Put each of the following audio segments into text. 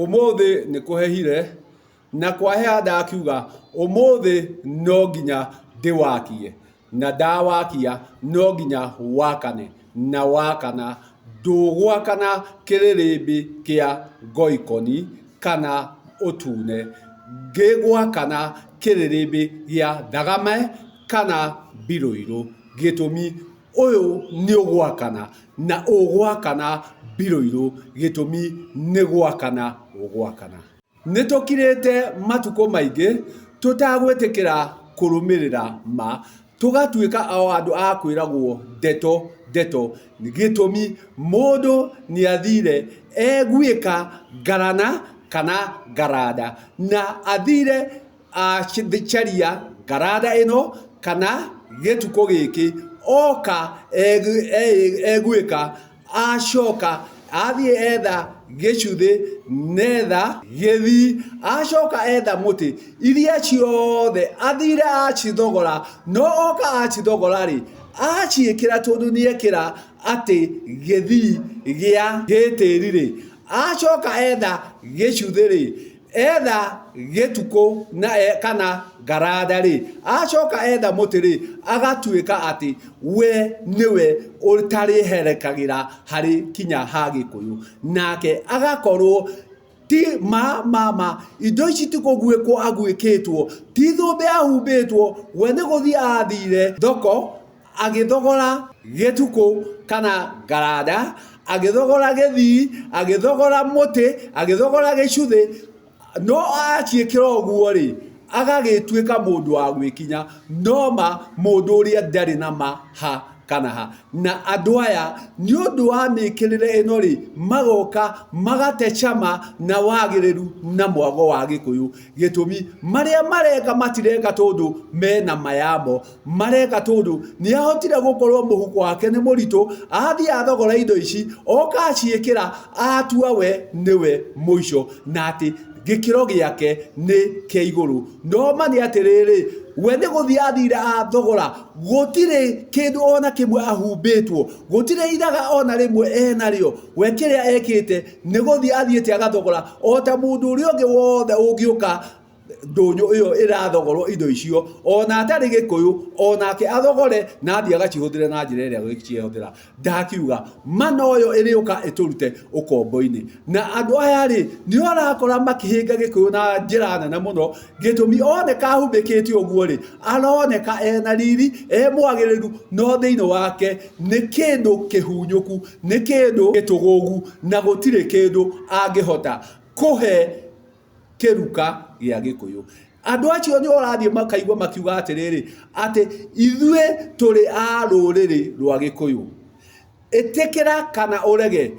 Ũmũthĩ nĩ kũhehire na kwaheha ndakiuga ũmũthĩ no nginya ndĩwakie na ndawakia no nginya wakane na wakana ndũgwakana kĩrĩrĩmbĩ kĩa ngoikoni kana ũtune, gĩgwakana kĩrĩrĩmbĩ gĩa thagame kana mbirũirũ gĩtũmi... Ũyũ nĩ ũgwakana na ũgwakana Biroirũ gĩtũmi nĩ gwakana ũgwakana. Nĩ tũkirĩte matukũ maingĩ tũtagwĩtĩkĩra kũrũmĩrĩra ma, tũgatuĩka o andũ a kwĩragwo ndeto ndeto gĩtũmi mũndũ nĩ athire eguĩka ngarana kana ngaranda na athire acaria ngaranda ĩno kana gĩtukũ gĩkĩ oka egwĩka acoka athiĩ etha gĩcuthĩ na etha gĩthii acoka etha mũtĩ iria ciothe athire acithogora no oka acithogora rĩ aciĩkĩra tondũ nĩ ekĩra atĩ gĩthii gĩa gĩtĩri rĩ acoka etha gĩcuthĩ rĩ Etha gĩtukũ kana ngaraatha-rĩ, acoka etha mũtĩ-rĩ, agatuĩka atĩ we nĩwe ũtarĩherekagĩra harĩ kinya ha Gĩkũyũ. Nake agakorwo ti ma ma ma, indo ici ti kũguĩkwo aguĩkĩtwo, ti thũmbĩ ahumbĩtwo, we nĩ gũthiĩ athire thoko. agĩthogora gĩtukũ kana ngaranda agĩthogora gĩthii agĩthogora mũtĩ agĩthogora gĩcuthĩ no aciĩkĩra ũguo rĩ agagĩtuĩka mũndũ wa gwĩkinya noma mũndũ ũrĩa ndarĩ na ma ha kana ha na andũ aya nĩ ũndũ wa mĩkĩrĩre ĩno rĩ magoka magate cama na wagĩrĩru na mwago wa gĩkũyũ gĩtũmi marĩa mareka matireka tondũ mena mayamo mareka tondu niahotire gukorwo muhuko wake ni muritu athii athogora indo ici oka aciikira atua we niwe muico na ati gikiro giake ni kia iguru no mani atiriri we ni guthii athire athogora gutire kindu ona kimwe ahumbitwo gutire iraga ona rimwe enario we kiria ekite ni guthii athiite agathogora ota mundu uri ungi wothe ungiuka ndũnyũ ĩyo ĩrathogorwo indo icio ona atarĩ gĩkũyũ onake athogore na athiĩ agacihũthĩre na njĩra ĩrĩa gĩciehũthĩra ndakiuga mana ũyũ ĩrĩũka ĩtũrute ũkombo-inĩ na andũ aya rĩ nĩo arakora makĩhĩnga gĩkũyũ na njĩra nene mũno gĩtũmi oneka ahumbĩkĩte ũguo rĩ aroneka ena riri e mwagĩrĩru no thĩinĩ wake nĩ kĩndũ kĩhunyũku nĩ kĩndũ gĩtũgũgu na gũtirĩ kĩndũ angĩhota kũhe kĩruka gĩa Gĩkũyũ. Andũ acio nĩ ũrathiĩ makaigua makiuga atĩrĩrĩ, atĩ ithuĩ tũrĩ a rũrĩrĩ rwa Gĩkũyũ. Ĩtĩkĩra kana ũrege,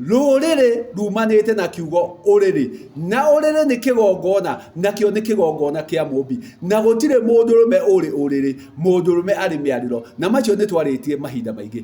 rũrĩrĩ rumanĩte na kiugo ũrĩrĩ, na ũrĩrĩ nĩ kĩgongona, nakĩo nĩ kĩgongona kĩa Mũmbi, na gũtirĩ mũndũrũme ũrĩ ũrĩrĩ, mũndũrũme arĩ mĩarĩro, na macio nĩ twarĩtie mahinda maingĩ.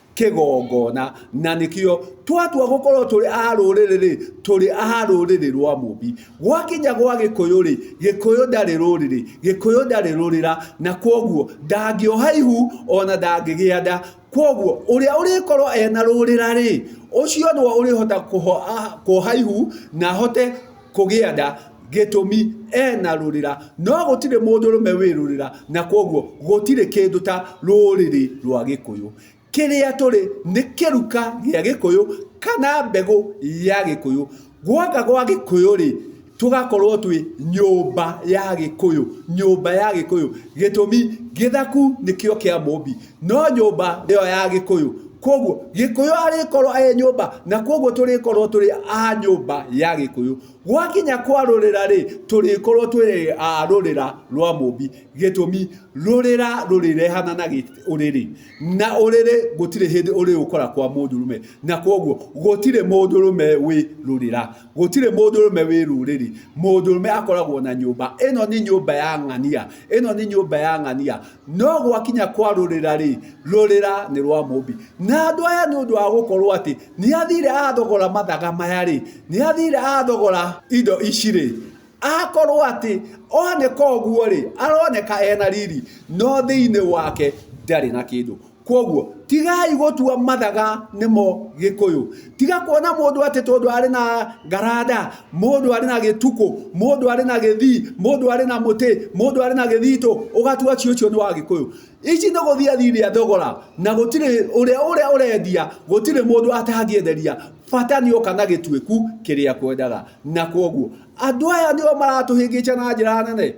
kĩgongona, na nĩkĩo twatua gũkorwo tũrĩ a rũrĩrĩ-rĩ, tũrĩ a rũrĩrĩ rwa Mũmbi. Gwakinya gwa Gĩkũyũ-rĩ, Gĩkũyũ ndarĩ rũrĩrĩ, Gĩkũyũ ndarĩ rũrĩra, na kwoguo ndangĩoha ihu ona ndangĩgĩa nda. Kwoguo ũrĩa ũrĩkorwo ena rũrĩra-rĩ, ũcio nĩwe ũrĩhota kwoha ihu na ahote... kũgĩa nda gĩtũmi ena rũrĩra, no gũtirĩ mũndũrũme wĩ rũrĩra, na kwoguo gũtirĩ kĩndũ ta rũrĩrĩ rwa Gĩkũyũ. Kĩrĩa tũrĩ nĩ kĩruka gĩa Gĩkũyũ kana mbegũ ya Gĩkũyũ. Gwaka gwa Gĩkũyũ-rĩ, tũgakorwo twĩ nyũmba ya Gĩkũyũ, nyũmba ya Gĩkũyũ, gĩtũmi gĩthaku nĩkĩo kĩa mũmbi, no nyũmba nĩyo ya gĩkũyũ koguo gĩkũyũ arĩkorwo e nyũmba na koguo tũrĩkorwo tũrĩ a nyũmba ya gĩkũyũ gwakinya kwa rũrĩra rĩ tũrĩkorwo twĩ a rũrĩra rwa mũmbi gĩtũmi rũrĩra rũrĩrehana na ũrĩrĩ na ũrĩrĩ gũtirĩ hĩndĩ ũrĩ ũkora kwa mũndũrũme na koguo gũtirĩ mũndũrũme wĩ rũrĩra gũtirĩ mũndũrũme wĩ rũrĩrĩ mũndũrũme akoragwo na nyũmba ĩno nĩ nyũmba ya ng'ania ĩno nĩ nyũmba ya ng'ania No gwakinya kwarũrĩra-rĩ, rũrĩra nĩ rwa Mũmbi. Na andũ aya nĩ ũndũ wa gũkorwo atĩ nĩ athire athogora mathaga maya-rĩ, nĩ athire athogora indo ici-rĩ, akorwo atĩ oneka ũguo-rĩ, aroneka ena riri, no thĩinĩ wake ndarĩ na kĩndũ. Kwoguo tigai gũtua mathaga nĩmo Gĩkũyũ. Tiga kuona mũndũ atĩ tondũ arĩ na ngaranda, mũndũ arĩ na gĩtukũ, mũndũ arĩ na gĩthii, mũndũ arĩ na mũtĩ, mũndũ arĩ na gĩthitũ, ũgatua atĩ ũcio nĩ wa Gĩkũyũ. Ici nĩ gũthiĩ athiĩ thogora na gũtirĩ ũrĩa ũrĩa ũrendia, gũtirĩ mũndũ atangĩenderia, bata nĩ oka na gĩtuĩku kĩrĩa akwendaga. Na kwoguo andũ aya nĩo maratũhĩngĩca na njĩra nene.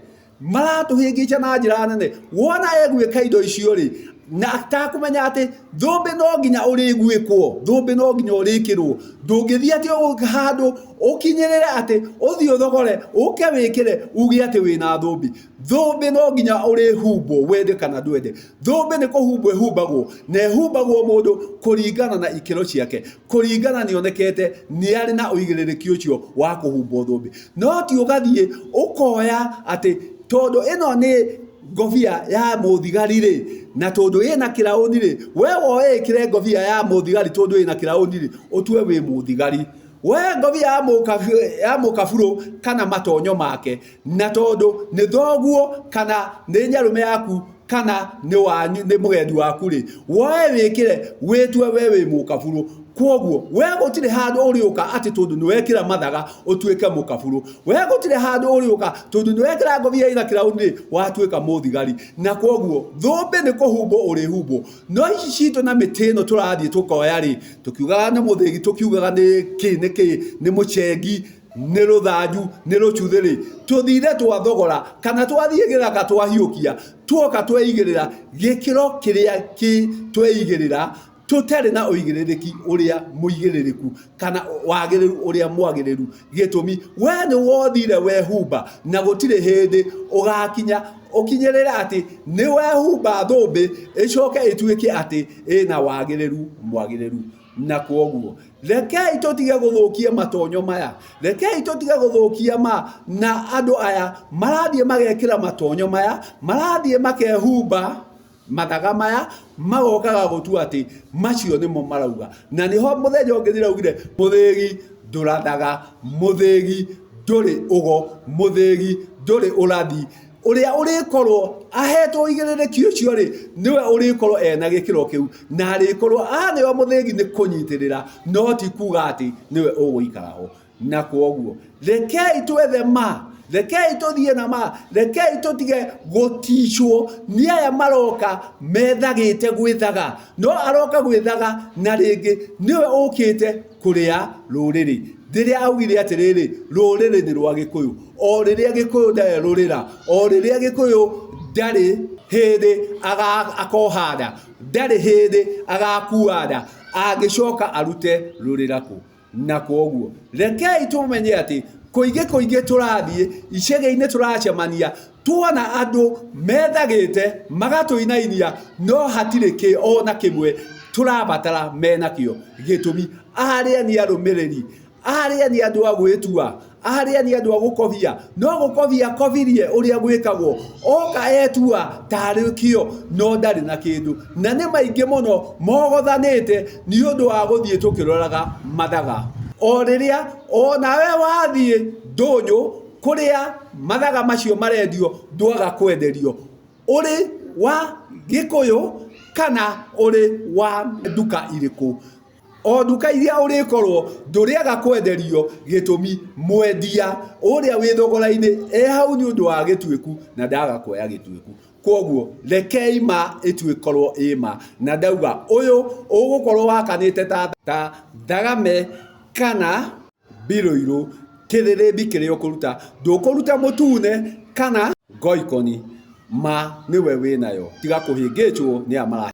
maratũhĩngĩca na njĩra nene wona egwĩka indo icio rĩ na atakũmenya atĩ thũmbĩ no nginya ũrĩguĩkwo thũmbĩ no nginya ũrĩkĩrwo ndũngĩthiĩ atĩ ũgũ- handũ ũkinyĩrĩre atĩ ũthiĩ ũthogore ũke wĩkĩre uge atĩ wĩna thũmbĩ thũmbĩ no nginya ũrĩhumbwo wende kana ndwende thũmbĩ nĩ kũhumbwo ĩhumbagwo na ĩhumbagwo mũndũ kũringana na ikĩro ciake kũringana nĩ onekete nĩ arĩ na ũigĩrĩrĩki ũcio wa kũhumbwo thũmbĩ no ti ũgathiĩ ũkoya atĩ tondũ ĩno nĩ ngobia ya mũthigari rĩ na tondũ ĩ na kĩraũni rĩ we woe ĩkĩre ngobia ya mũthigari tondũ ĩ na kĩraũni rĩ ũtue wĩ mũthigari we ngobia ya mũkabirũ kana matonyo make na tondũ nĩ thoguo kana nĩ nyarũme yaku kana nĩ wanyu nĩ mũgendi waku rĩ woe wĩkĩre wĩtue we wĩ mũkaburu kwoguo we gũtirĩ handũ ũrĩũka atĩ tondũ nĩ wekĩra mathaga ũtuĩke mũkaburu we gũtirĩ handũ ũrĩũka tondũ nĩ wekĩra ngothi ya irakĩraũ nĩ watuĩka mũthigari na kwoguo thũmbĩ nĩ kũhumbwo ũrĩhumbwo no ici citũ na mĩtĩ ĩno tũrathiĩ tũkoya rĩ tũkiugaga nĩ mũthĩgi tũkiugaga nĩ kĩ nĩ kĩ nĩ mũcengi nĩ rũthanju nĩ rũcuthĩ rĩ tũthire twathogora kana twathiĩ gĩthaka twahiũkia tuoka tweigĩrĩra gĩkĩro kĩrĩa kĩ tweigĩrĩra tũtarĩ na ũigĩrĩrĩki ũrĩa mũigĩrĩrĩku kana wagĩrĩru ũrĩa mwagĩrĩru gĩtũmi we nĩ wothire wehumba na gũtirĩ hĩndĩ ũgakinya ũkinyĩrĩre atĩ nĩ wehumba thũmbĩ ĩcoke ĩtuĩke atĩ ĩna wagĩrĩru mwagĩrĩru Na kwoguo, rekei tũtige gũthũkia matonyo maya, rekei tũtige gũthũkia ma na andũ aya marathiĩ magekĩra matonyo maya, marathiĩ makehumba mathaga maya, magokaga gũtua atĩ macio nĩmo marauga. Na nĩho mũthenya ũngĩ ndĩraugire mũthĩgi ndũrathaga, mũthĩgi ndũrĩ ũgo, mũthĩgi ndũrĩ ũrathi. Ũrĩa ũrĩkorwo aheetwo ũigĩrĩrĩki ũcio-rĩ, nĩwe ũrĩkorwo e na gĩkĩro kĩu, na arĩkorwo aarĩ o mũthĩgi nĩ kũnyitĩrĩra, no ti kuuga atĩ nĩwe ũgũikara ho. Na kwoguo, rekei twethe ma, rekei tũthiĩ na ma, rekei tũtige gũticwo nĩ aya maroka methagĩte gwĩthaga, no aroka gwĩthaga na rĩngĩ nĩwe ũũkĩte kũrĩa rũrĩrĩ. Rĩrĩa augire atĩrĩrĩ, rũrĩrĩ nĩ rwa Gĩkũyũ. O rĩrĩa Gĩkũyũ ndarĩ rũrĩra, o rĩrĩa Gĩkũyũ ndarĩ hĩndĩ akoha nda, ndarĩ hĩndĩ agakua nda, angĩcoka arute rũrĩra kũ? Na kwoguo, rekei tũmenye atĩ kũingĩ kũingĩ tũrathiĩ, icagi-inĩ tũracemania, Tuona andũ methagĩte magatũinainia no hatirĩ kĩ o na kĩmwe tũrabatara menakĩo gĩtũmi arĩa nĩ arũmĩrĩri, arĩa nĩ andũ a gwĩtua, arĩa nĩ andũ a gũkobia no gũkobia akobirie ũrĩa gwĩkagwo oka etua tarĩ kĩo no ndarĩ na kĩndũ na nĩ maingĩ mũno mogothanĩte nĩ ũndũ wa gũthiĩ tũkĩroraga mathaga o rĩrĩa o na we wathiĩ ndũnyũ. Kũrĩa mathaga macio marendio ndwaga kwenderio ũrĩ wa gĩkũyũ kana ũrĩ wa nduka irĩkũ. O nduka iria ũrĩkorwo ndũrĩaga kwenderio gĩtũmi mwendia ũrĩa wĩ thogora-inĩ e hau nĩ ũndũ wa Gĩtuĩku na ndaga kuoya Gĩtuĩku. Kwoguo rekei ma ĩkorwo ĩ ma na ndauga ũyũ ũgũkorwo wakanĩte ta Thakame kana... Mbirũirũ, kĩthĩrĩmbi kĩrĩa ũkũruta ndũkũruta mũtune kana ngoikoni ma nĩwe wĩnayo tiga kũhĩngĩcwo nĩ arĩa marahĩngĩca.